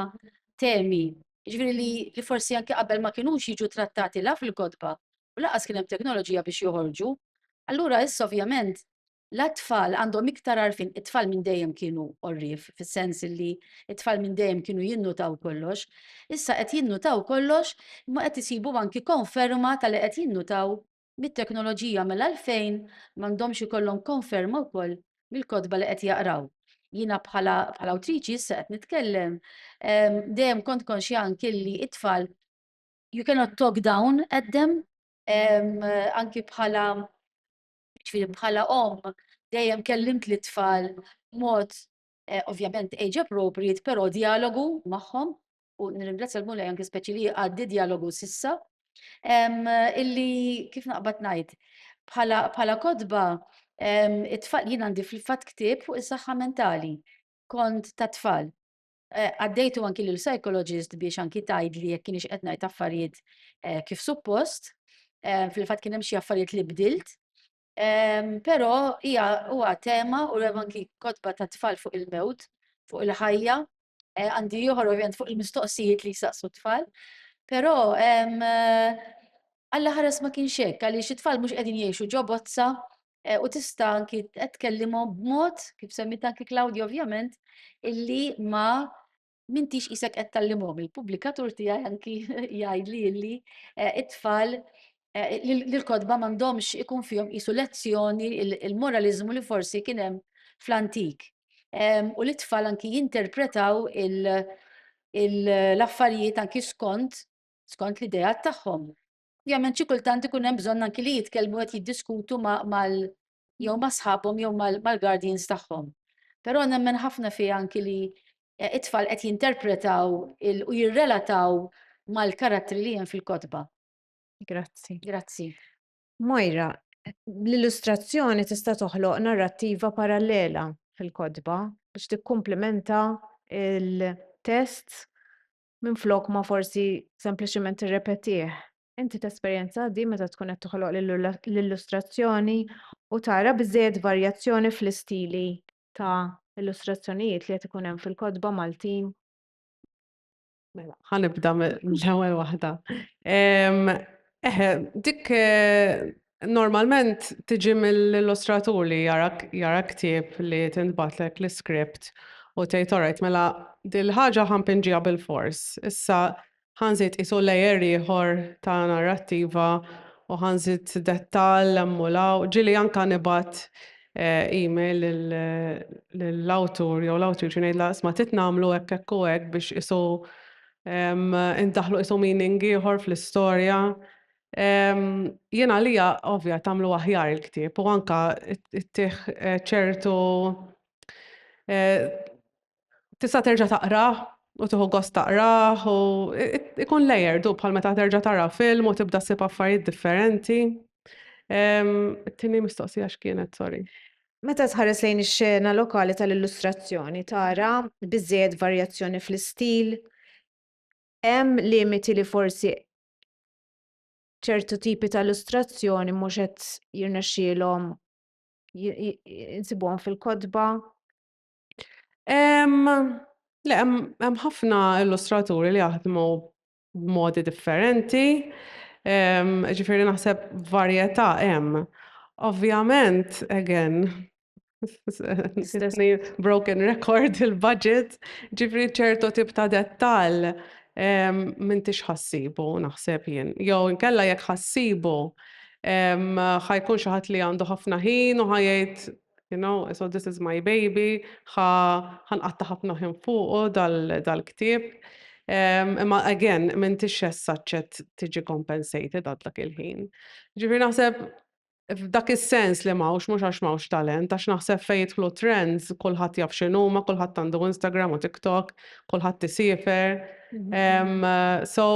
temi Jiġifieri li li forsi anke qabel ma kinux jiġu trattati la fil-kotba u lanqas kien hemm teknoloġija biex joħorġu. Allura issa ovvjament la t-tfal għandhom iktar għarfien, it-tfal minn dejjem kienu għorrief fis-sens illi t-tfal minn dejjem kienu jinnutaw kollox, issa qed jinnutaw kollox imma qed isibu anki konferma ta' li qed jinnutaw mit-teknoloġija mela għalfejn m'għandhomx ikollhom konferma wkoll mill-kotba li qed jaqraw. Jiena bħala bħala awtriċi issa qed nitkellem ehm, dejjem kont konxja anki li it-tfal you cannot talk down at them ehm, anki bħala ġifieri bħala om dejjem kellimt li tfal mod Ovvjament age appropriate, però djalogu magħhom u nirringrazzja l-Mulej anke speċi li jgħaddi djalogu s'issa illi kif naqbad ngħid bħala bħala kotba it-tfal jien għandi fil-fatt ktieb fuq is-saħħa mentali, kont tat-tfal. Għaddejtu anki lil psychologist biex anki tgħidli jekk kienx qed ngħid affarijiet kif suppost. Fil-fatt kien hemm xi affarijiet li bdilt Però hija huwa tema u hemm anki kotba tat-tfal fuq il-mewt, fuq il-ħajja, għandi ieħor ovvjament fuq il-mistoqsijiet li jsaqsu t-tfal. Però Alla ħares ma kienx hekk għaliex it-tfal mhux qegħdin jgħixu ġo bozza u tista' anki qed tkellimhom b'mod, kif semmiet anki Claudia ovvjament, illi ma m'intix qisek qed tgħallimhom. Il-pubblikatur tiegħi anki jgħidli li eh, it-tfal eh, li l-kotba m'għandhomx ikun fihom qisu lezzjoni il-moraliżmu li forsi kien hemm fl-antik. Ehm, u li t-tfal anki jinterpretaw l-affarijiet anki skont skont l-idea tagħhom. Ovvjament xi kultant ikun hemm bżonn anki li jitkellmu qed jiddiskutu mal jew ma' sħabhom jew mal-guardians tagħhom. Però nemmen ħafna fija anki li eh, it-tfal qed jinterpretaw u jirrelataw mal-karattri li hemm fil-kotba. Grazzi. Grazzi. Moira, l-illustrazzjoni tista' toħloq narrattiva parallela fil-kotba biex tikkumplimenta il-test minn flok ma forsi sempliċement irrepetih. Inti tesperjenza din meta tkun qed toħloq l-illustrazzjoni u tara biżżejjed varjazzjoni fl-istili ta' illustrazzjonijiet li qed ikun hemm fil-kotba Maltin? Mela, ħa nibda mill-ewwel waħda. Eħe, dik normalment tiġi mill-illustratur li jara ktieb li tintbagħatlek l-iskript u tgħid alright mela dil-ħaġa ħa npinġiha bil-fors. Issa Ħa nżid qisu layer ieħor ta' narrattiva u ħa nżid dettall hemm u 'l hawn. Ġieli anke nibgħat email lill-awtur jew l-awtriċi ngħidlha isma' trid nagħmlu hekk hekk u hekk biex qisu indaħħlu qisu meaning ieħor fl-istorja. Jien għalija ovvja tagħmlu aħjar il-ktieb u anke ttih ċertu tista' terġa' taqrah u tieħu gost taqrah u ikun layered u bħal meta terġa' tara film u tibda ssib affarijiet differenti. It-tieni mistoqsija x'kienet, sorry. Meta tħares lejn ix-xena lokali tal-illustrazzjoni tara biżżejjed varjazzjoni fl-istil? Hemm limiti li forsi ċertu tipi ta' illustrazzjoni mhux qed jirnexxielhom insibuhom fil-kotba? Le, hemm ħafna illustraturi li jaħdmu b'modi differenti, ġifieri naħseb varjetà hemm. Ovvjament, again, broken record il-budget, ġifieri ċertu tip ta' dettall m'intix ħa ssibu naħseb jien. Jew inkella jekk ħa ssibu, ħa jkun xi ħadd li għandu ħafna ħin u ħa jgħid You know, so this is my baby, ħa nqatta' ħafna ħin fuqu dal-ktieb. Imma again, m'intix as such qed tiġi compensated għal dak il-ħin. Ġifieri naħseb f'dak is-sens li m'hawnx mhux għax m'hawnx talent, għax naħseb fejn jidħlu trends kulħadd jaf x'inhuma, kulħadd għandu Instagram u TikTok, kulħadd isiefer. So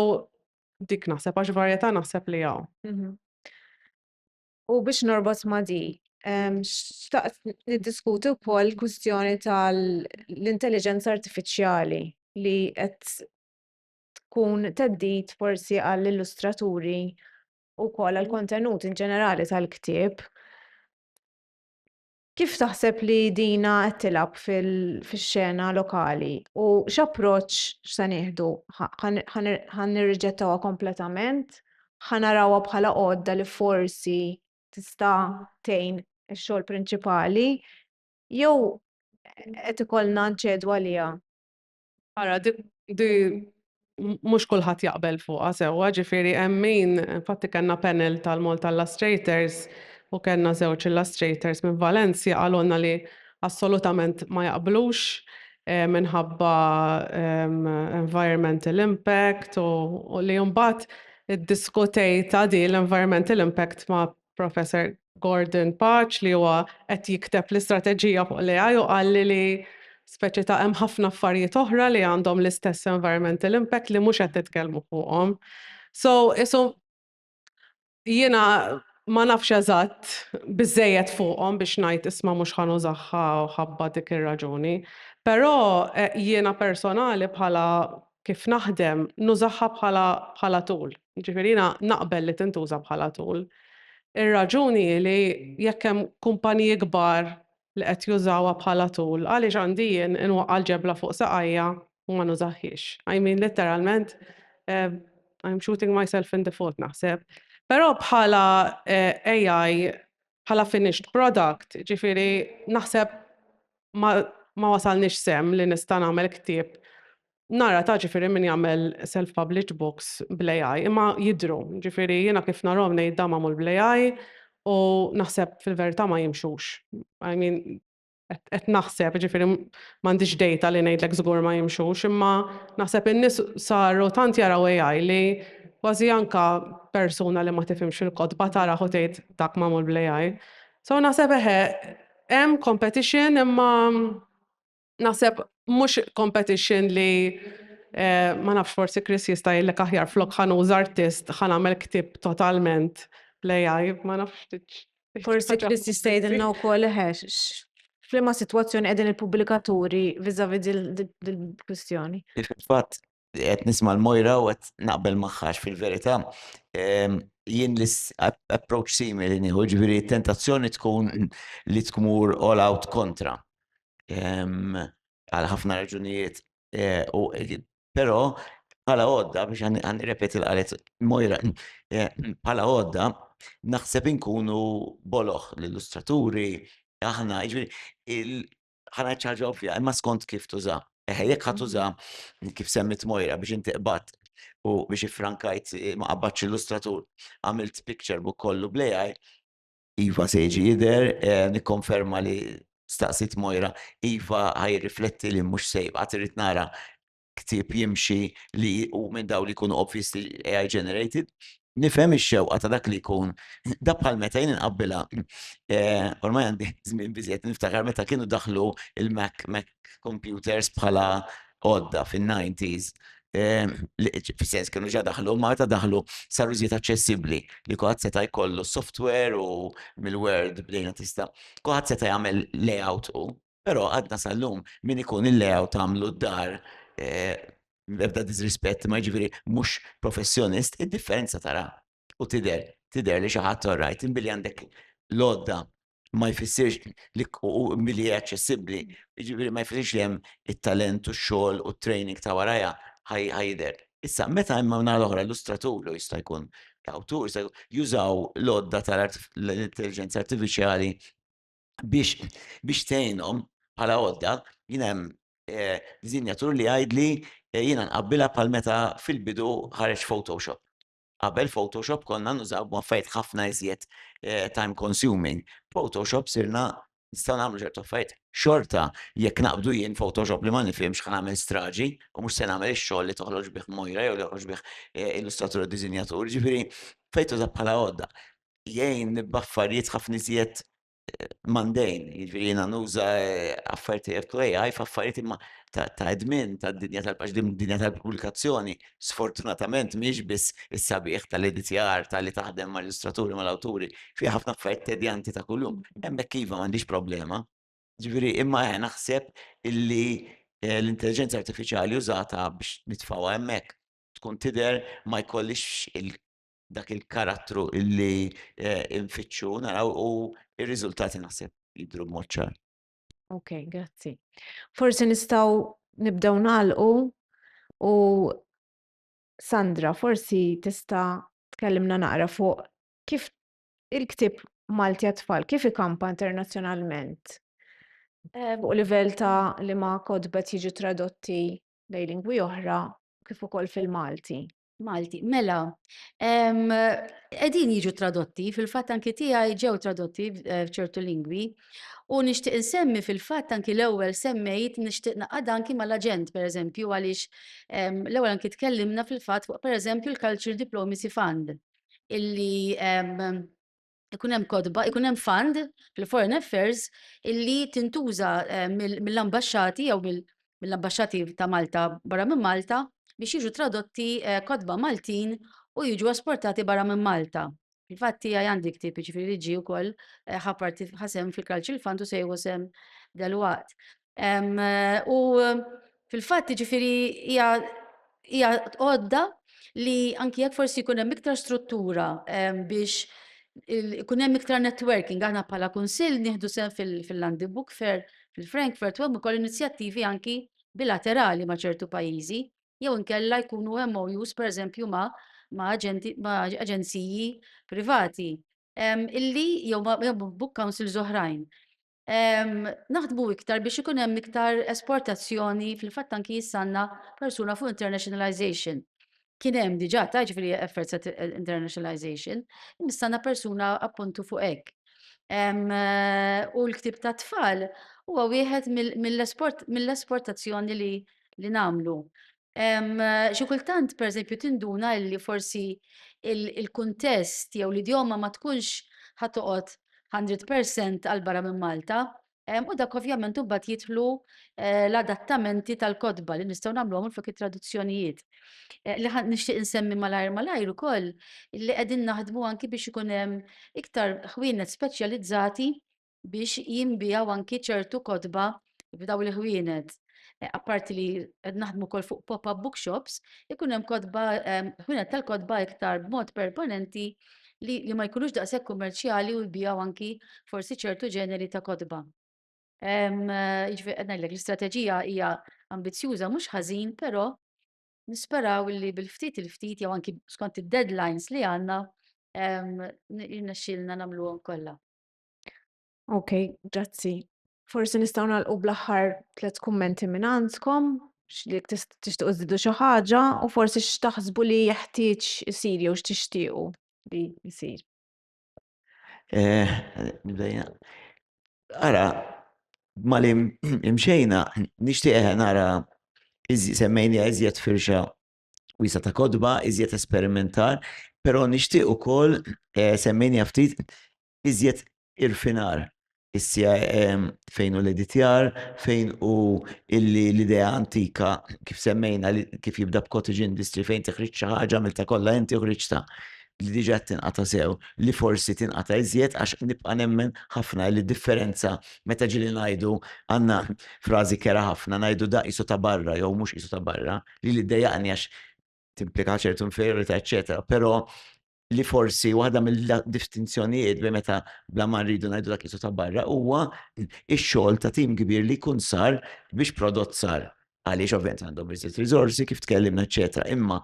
dik naħseb għax varjetà naħseb li hawn. U biex norbot ma' di, xtaqt niddiskuti wkoll kwistjoni tal-intelligenza artifiċjali li qed tkun teddit forsi għall-illustraturi u wkoll għall-kontenut in ġenerali tal-ktieb. Kif taħseb li dina qed tilgħab fix-xena lokali u x'approċċ x'se nieħdu? Ħa nirriġettawha kompletament? Ħa narawha bħala għodda li forsi tista' tgħin ix-xogħol prinċipali? Jew qed ikollna nċedu għaliha? Ara, di mhux kulħadd jaqbel fuqha sewwa, ġifieri hemm min, infatti kellna panel tal-Malta Illustrators u kellna żewġ illustrators minn Valencia qalulna li assolutament ma jaqblux eh, minħabba ehm, environmental impact u li mbagħad iddiskutejta di l-environmental impact ma' Professor Gordon Paċ li huwa qed jikteb l-istrateġija fuq l-AI u qalli li speċi ta' hemm ħafna affarijiet oħra li għandhom l-istess environmental impact li mhux qed titkellmu fuqhom. So, isu jiena ma nafx eżatt biżejjed fuqhom biex ngħid isma' mhux ħanużaħħa ħabba dik ir-raġuni. Però eh, jiena personali bħala kif naħdem nużaha bħala bħala tool. Jiġifieri jiena naqbel li tintuża bħala tool. Ir-raġuni hi li jekk hemm kumpaniji kbar li qed jużawha bħala tool, għaliex għandi jien inwaqqa' l-ġebla fuq saqajja u ma nużahhiex? I mean litteralment, I'm shooting myself in the foot naħseb. Però bħala AI bħala finished product, ġifieri naħseb ma, ma wasalniex sem li nista' nagħmel ktieb Nara ta' ġifiri min jagħmel self-published books bl-AI, imma jidru, ġifiri jiena kif narhom ngħid dam magħmul bl-AI u naħseb fil-verità ma jimxux. I mean, qed naħseb, ġifieri m'għandix data li ngħidlek żgur ma jimxux, imma naħseb in-nies saru tant jaraw AI li kważi anka persuna li ma tifhimx il-kotba tara u tgħid dak magħmul bl-AI. So naħseb eħe, hemm competition imma naħseb mhux competition li eh, ma nafx forsi Chris jista' jgħidlek aħjar flok ħanuż artist ħanamel ktib totalment bl-AI, ma nafx Forsi Chris jista' jgħidilna wkoll ħex. F'liema sitwazzjoni qegħdin il-pubblikaturi viżavi dil-kwistjoni. Fatt, qed nisma' l-mojra u qed naqbel magħhax fil-verità. Ehm, jien l-approach simili nieħu ġifieri tentazzjoni tkun li tmur all out kontra. Ehm, għal ħafna raġunijiet u però bħala għodda biex għan repeti l-qalet mojra bħala għodda naħseb inkunu boloħ l-illustraturi aħna ġviri ħana ċaġa ovvja imma skont kif tuża. Eħe, jekk ħat tuża kif semmit mojra biex inti qbat u biex ifrankajt ma qabbatx illustratur għamilt picture book kollu blejaj, Iva se jiġi jidher, nikkonferma li staqsiet Moira, iva ħa jirrifletti li mhux se jibqa' trid nara ktieb jimxi li hu minn dawn li jkunu obviously AI generated. Nifhem ix-xewqa ta' dak li jkun, da bħal meta jien inqabbilha, ormai għandi żmien biżżejjed niftakar meta kienu daħlu l-Mac kompjuters bħala għodda fin-90s fis-sens kienu ġa daħlu, ma meta daħlu saru żied aċċessibbli li kuħat seta' jkollu software u mill-word bdejna tista' kuħat seta' jagħmel layout u però għadna sal-lum min ikun il-layout għamlu d-dar ebda disrispett ma ġifieri mhux professjonist, id-differenza tara u tidher tidher li xi ħadd orrajt inbilli għandek l-għodda ma jfissirx li milli hija aċċessibbli, jiġifieri ma jfissirx li hemm it-talent u x-xogħol u t-training ta' warajha ħajidher. Issa, meta hemm min-naħa l-oħra illustratur jew jista' jkun awtur se jużaw l-għodda tal-intelliġenza artifiċjali biex biex tgħinhom bħala għodda, jien hemm disinjatur li jgħidli jiena nqabbilha bħal meta fil-bidu ħareġ Photoshop. Qabel Photoshop konna nużaw b'affarijiet ħafna iżjed time consuming. B'Photoshop sirna nistgħu nagħmlu ċertu affarijiet. Xorta jekk naqbdu jien Photoshop li ma nifhimx ħa nagħmel straġi u mhux se nagħmel ix-xogħol li toħroġ bih Moira jew li joħroġ bih illustratur u disinjatur. Jiġifieri fejn tuża bħala għodda jgħin nibba affarijiet ħafna iżjed mandejn, jiġri jiena nuża eh, affarijiet li jgħidu AI f'affarijiet imma ta' edmin ta' dinja tal-paġ dinja tal-pubblikazzjoni. Sfortunatament mhix biss is-sabiħ tal-editjar tal-li taħdem mal-illustraturi mal-awturi fi ħafna affarijiet tedjanti ta' kuljum. Hemmhekk iva m'għandix problema. Ġifieri imma eh, naħseb illi eh, l-intelligenza artifiċjali użata biex nitfgħuha hemmhekk tkun tidher ma jkollix dak il-karattru illi eh, infittxu naraw u ir-riżultati naħseb jidhru b'mod ċar. Ok, grazzi. Forsi nistgħu nibdew nagħlqu u Sandra, forsi tista' tkellimna naqra fuq kif il-ktib Malti għat-tfal kif ikampa internazzjonalment eh, fuq livell ta' li ma kodbet jiġu tradotti lejn lingwi oħra kif ukoll fil-Malti. Malti, mela, qegħdin jiġu tradotti, fil-fatt anki tiegħi ġew tradotti eh, f'ċertu lingwi. U nixtieq insemmi fil-fatt anki l-ewwel semmejt nixtieq naqad anki mal-aġent pereżempju għaliex l-ewwel anki tkellimna fil-fatt fuq pereżempju l-Culture Diplomacy Fund illi ikun hemm kotba, ikun hemm fund fil-Foreign Affairs illi tintuża eh, mill-ambasċati jew mill-ambasċati ta' Malta barra minn Malta biex jiġu tradotti eh, kotba Maltin u jiġu esportati barra minn Malta. Infatti għaj għandi ktib ġifiri li ġi u koll eh, ħaparti ħasem fil-Cultural Fund u sejħu sem dal-waqt. U fil-fatt ġifiri hija għodda li anki jekk forsi jkun hemm iktar struttura biex ikun hemm iktar networking aħna bħala kunsill nieħdu sehem fil-Landi Book Fair fil-Frankfurt u hemm ukoll inizjattivi anki bilaterali ma' ċertu pajjiżi jew inkella jkunu hemm MOUs pereżempju ma' aġenziji privati illi jew book councils oħrajn. Naħdmu iktar biex ikun hemm iktar esportazzjoni, fil-fatt anki jissanna persuna fuq internationalization. Kien hemm diġà ta' ġifieri efforts at internationalization, jissanna persuna appuntu fuq hekk. U l-ktieb tat-tfal huwa wieħed mill-esportazzjoni li nagħmlu. xi kultant pereżempju tinduna li forsi il-kuntest jew l-idjoma ma tkunx ħa toqgħod hundred percent għal barra minn Malta, u dak ovvjament imbagħad jidħlu l-adattamenti tal-kotba li nistgħu nagħmluhom minflok it-traduzzjonijiet. Li nixtieq insemmi malajr malajr ukoll li qegħdin naħdmu anki biex ikun hemm iktar ħwienet speċjalizzati biex jinbiegħu anki ċertu kotba f'dawn il-ħwienet. Apparti li qed naħdmu wkoll fuq pop-up bookshops, ikun hemm kotba ħwienet tal-kotba iktar b'mod permanenti li ma jkunux daqshekk kummerċjali u jbiegħu anki forsi ċertu ġeneri ta' kotba. Jiġifieri qed ngħidlek l-istrateġija hija ambizzjuża mhux ħażin, però nisperaw li bil-ftit il-ftit jew anki skont id-deadlines li għandna jirnexxielna nagħmluhom kollha. Ok, grazzi. Forsi nistgħu nagħlqu bl-aħħar tliet kummenti minn għandkom, x'lik tixtiequ żidu xi ħaġa u forsi x'taħsbu li jeħtieġ isir jew x'tixtiequ li jsir. Eh, ara, mali imxejna, nixtieq nara semmejni iżjed firxa wiesa ta' kodba, iżjed esperimentar, però nixtieq ukoll eh, semmejni ftit iżjed irfinar issija ehm, fejn u l-editjar, fejn u l-idea antika kif semmejna kif jibda b'cottage industry fejn teħriġ xi ħaġa mill ta' kollha inti uħriġta li diġa tinqata sew, li forsi tinqata iżjed għax nibqa' nemmen ħafna li differenza meta ġili ngħidu għandna frażi kera ħafna ngħidu da isu ta' barra jew mhux isu ta' barra, li li ddejjaqni għax timplika ċertu inferiorità eċetera, però li forsi waħda mill-distinzjonijiet bi meta bla ma rridu ngħidu dak isu ta' barra huwa x-xogħol ta' tim kbir li jkun sar biex prodott sar. Għaliex ovvjament għandhom iżjed riżorsi kif tkellimna eċetera, imma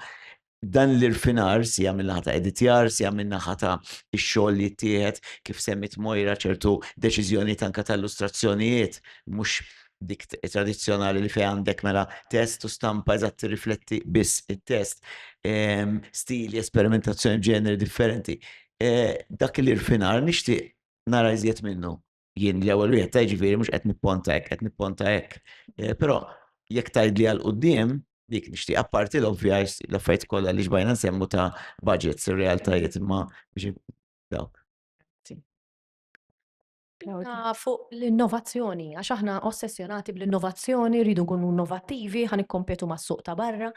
dan l-irfinar si għamil naħa ta' editjar, si għamil naħa ta' ix-xogħol li jittieħed kif semmit Mojra ċertu deċiżjoni tanka ta' illustrazzjonijiet mhux dik tradizzjonali li fej għandek mela test u stampa eżatt tirrifletti biss it-test, ehm, stili, esperimentazzjoni ġeneri differenti. Eh, dak li rfinar nixtieq nara iżjed minnu. Jien l-ewwel wieħed ta' ġifieri mhux qed nipponta hekk, qed nipponta hekk. Eh, però jekk tgħidli għal quddiem dik nixtieq apparti l-ovvja l-affarijiet kollha li ġbajna nsemmu ta' budgets, realtajiet ma biex dawk. Spinta fuq l-innovazzjoni, għax aħna ossessjonati bl-innovazzjoni, rridu nkunu innovattivi, ħa nikkompetu mas-suq ta' barra.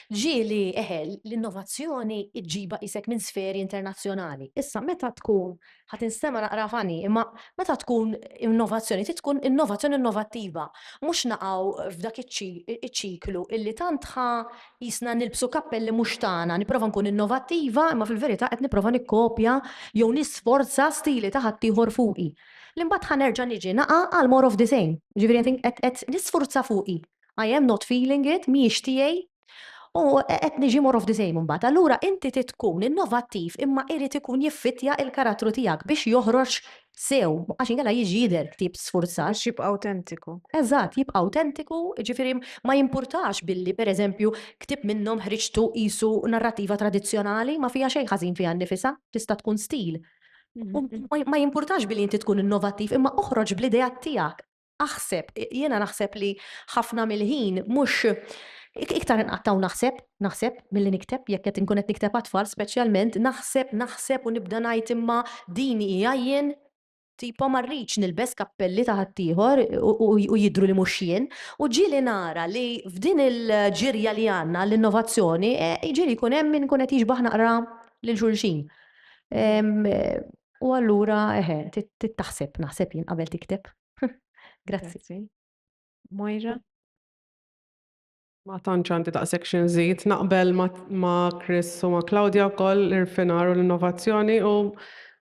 Ġieli, eħe, l-innovazzjoni ġġibha qisek minn sferi internazzjonali. Issa meta tkun, ħa tinstema' naqra funny, imma meta tkun innovazzjoni trid tkun innovazzjoni innovattiva, mhux naqgħu f'dak iċ-ċiklu illi tant ħa Qisna nilbsu kappelli mhux tagħna, nipprova nkun innovattiva imma fil-verità qed nipprova nikkopja jew nisforza stili ta' ħaddieħor fuqi. Li mbagħad ħa nerġa' niġi naqa' għal more of the same. Jiġifieri qed qed qed nisfurza fuqi. I am not feeling it, mhijiex tiegħi u qed niġi more of the same imbagħad. Allura inti trid tkun innovattiv imma irid ikun jiffittja l-karattru tiegħek biex joħroġ sew, għax inkella jiġi jidher ktieb sfurzat. Biex jibqa' awtentiku. Eżatt, jibqa' awtentiku, jiġifieri ma jimpurtax billi, pereżempju, ktieb minnhom ħriġtu qisu narrattiva tradizzjonali, ma fiha xejn ħażin fiha nnifisha, tista' tkun stil. Ma jimpurtax billi inti tkun innovattiv, imma oħroġ bl-ideat tiegħek. Aħseb, jiena naħseb li ħafna mill-ħin mhux iktar inqattaw naħseb, naħseb milli nikteb jekk qed inkun qed nikteb għat-tfal speċjalment, naħseb, naħseb u nibda ngħid imma din hija jien, tipo ma rridx nilbes kappelli ta' ħaddieħor u jidhru li mhux jien, u ġieli nara li f'din il-ġirja li għandna għall-innovazzjoni, jiġieli jkun hemm min ikun qed jixbah naqra lil xulxin. U allura, eħe, tittaħseb, naħseb jien qabel tikteb. Grazzi. Moira? Ma tantx għandi daqshekk xi nżid, naqbel ma' Chris u ma' Claudia wkoll l-irfinar u l-innovazzjoni u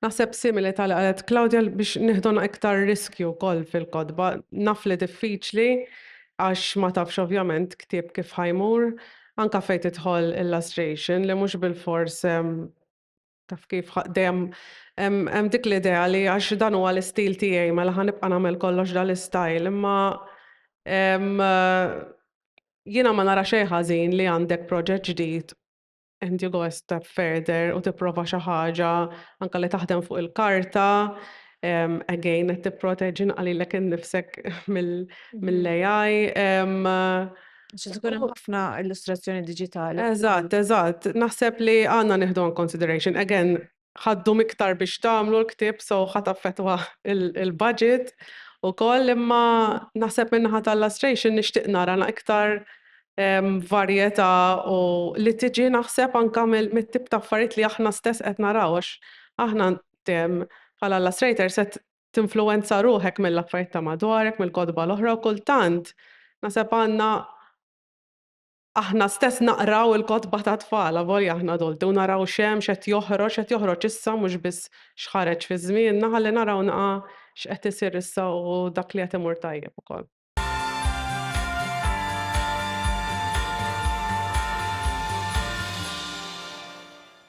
naħseb simili tal qalet Claudia biex nieħduna iktar riskju wkoll fil-kotba. Naf li diffiċli għax ma tafx ovvjament ktieb kif ħajmur, anka fejn tidħol illustration li mhux bil-fors Taf kif, dejjem hemm dik l-idea li għax dan huwa l-istil tiegħi mela ħa nibqa' nagħmel kollox dan l-istyle, imma jiena ma nara xejn ħażin li għandek proġett ġdid and you go a step further u tipprova xi ħaġa anke li taħdem fuq il-karta, again qed tipproteġi naqra lilek innifsek mill-AI. Għax tkun hemm ħafna illustrazzjoni diġitali. Eżatt, eżatt. Naħseb li għandna nieħdu in consideration. Again, ħaddu miktar biex tagħmlu l-ktieb so ħadd affettwa il-budget ukoll imma naħseb min-naħa tal-illustration nixtieq nara iktar varjetà u li tiġi naħseb anke mit-tip ta' affarijiet li aħna stess qed naraw għax aħna bħala illustrators qed tinfluwenza ruħek mill-affarijiet ta' madwarek, mill-kotba l-oħra u kultant naħseb għandna aħna stess naqraw il-kotba tat-tfal avolja aħna adulti u naraw x'hemm, x'qed joħroġ, x'qed joħroġ issa mhux biss x'ħareġ fi żmienna ħalli naraw naqra x'qed isir issa u dak li qed imur tajjeb ukoll.